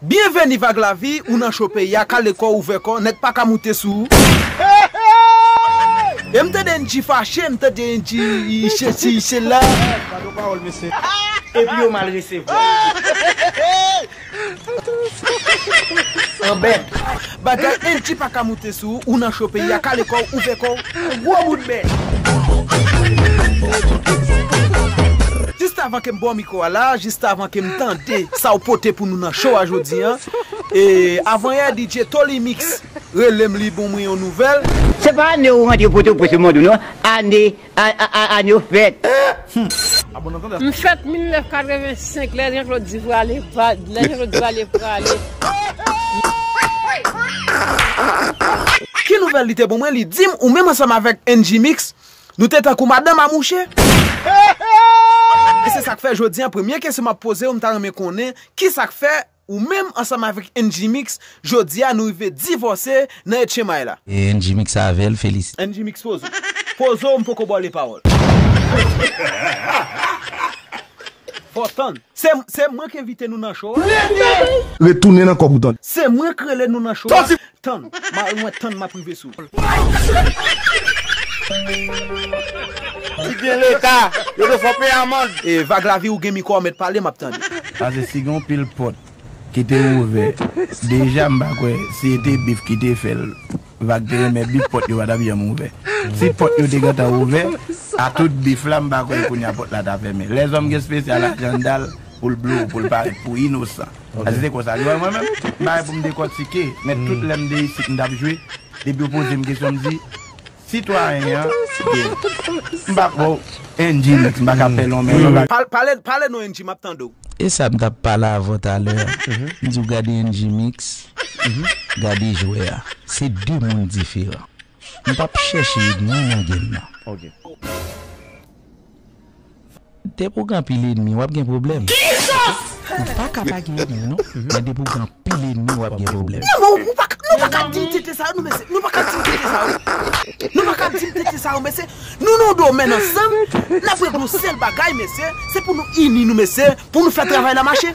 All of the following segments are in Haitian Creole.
Byen veni vag lavi ou nan cho peyi a kale kòw ouvè kòw nèg paka moute sou ou eehh em tande yn ti fache m tande yn ti sesi sela gadon pawòl mesye epi yo mal resevwal. Anbèt. Bagay Angie paka moute sou ou ou nan cho peyi a kale kòw ouvè kòw fè gwo moun mèt. Just avan kem baw mikro a la just avan kem tande sa ou pote pou nou nan show a jodi an e avan yè DJ Tolly Mix relem li bon mwen yon nouvèl. Se pa ane ou rantre potoprens yo mande w non ane. Aah Anne ou fèt humm. M fèt 1985 lè Jean Claude di prale lè Jean Claude di prale prale m. Ki nouvèl li te bon mwen li dim ou menm ansanm avèk NG mix nou te tankou madanm a mouche. E se sak fè jodi an premye kesyon map pozew m ta renmen konnen ki sak fè Ou menm ansanm avèk Ndjimix jodi a nou rive divòse nan etchemay la. E Ndjimix avè l felisite. Ndjimix poze w. Poze w m poko ba w 2 pawòl. Fò w tann. Se mwen k envite nou nan show a. Lete! Retounen nan kòb ou tande. Se mwen k rele nou nan show a. Tann, mari mwen tann map rive sou. Li gen leta, yo dwe fè peye amand. Vag lavi ou gen mikro a met pale map tande. Pase si gen yon pil pot ki te ouvè deja m pa kwè si e te bif ki te fè l vag te renmen bif pot yo pa tap janm ouvè si pot yo te gentan ouvè a tout bif la m pa kwè kounya pot la ta fèmen lèzòm gen spesyal ak jandal pou l blow pou l parèt pou inosan. Asi se konsa li wè mwen menm, bagay pou m dekòtike, men tout lè m de isit m t ap jwe, depi yo poze m kesyon m di, Sitwayen an gen, m pa kwè w NG mix m pa ka fè lonmen non. Pale nou NG m ap tande w. E sa m t ap pale avè w talè a, m di w gade NG mix, gade jwè a, se de moun diferan. M pap chèche edmi nan game nan. Depi w gen anpil edmi wap gen pwoblèm. Ou pa ka pa gen edmi non. Men depi w gen anpil edmi wap gen pwoblèm. Non men ou pa ka nou pa ka di tete sa yo non mesye nou pa ka di tete sa yo nou pa ka di tete sa yo mesye nou nan yon domèn ansanm nap regle yon sèl bagay mesye se pou nou ini nou mesye pou nou fè travay la mache.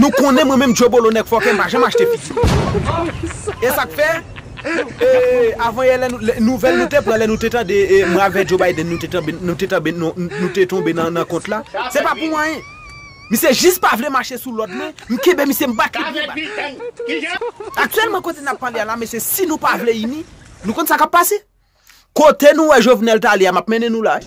Nou konnen mwen menm Jobolo nèg fòkè m pa janm achte figi m. E sa k fè, avan yè nouvèl nou te pran lè nou te tande mwen avè Joe Biden nou te tanbe nou te tonbe nan kont la, se pa pou anyen. Misye jis pa vle mache sou lòd mwen, m kenbe misye m bat li byen bat. Aktyèlman kote n ap pale a la mesye si nou pa vle ini, nou konn sa k ap pase. Kote nou wè jovenel tale a map mennen nou la wi.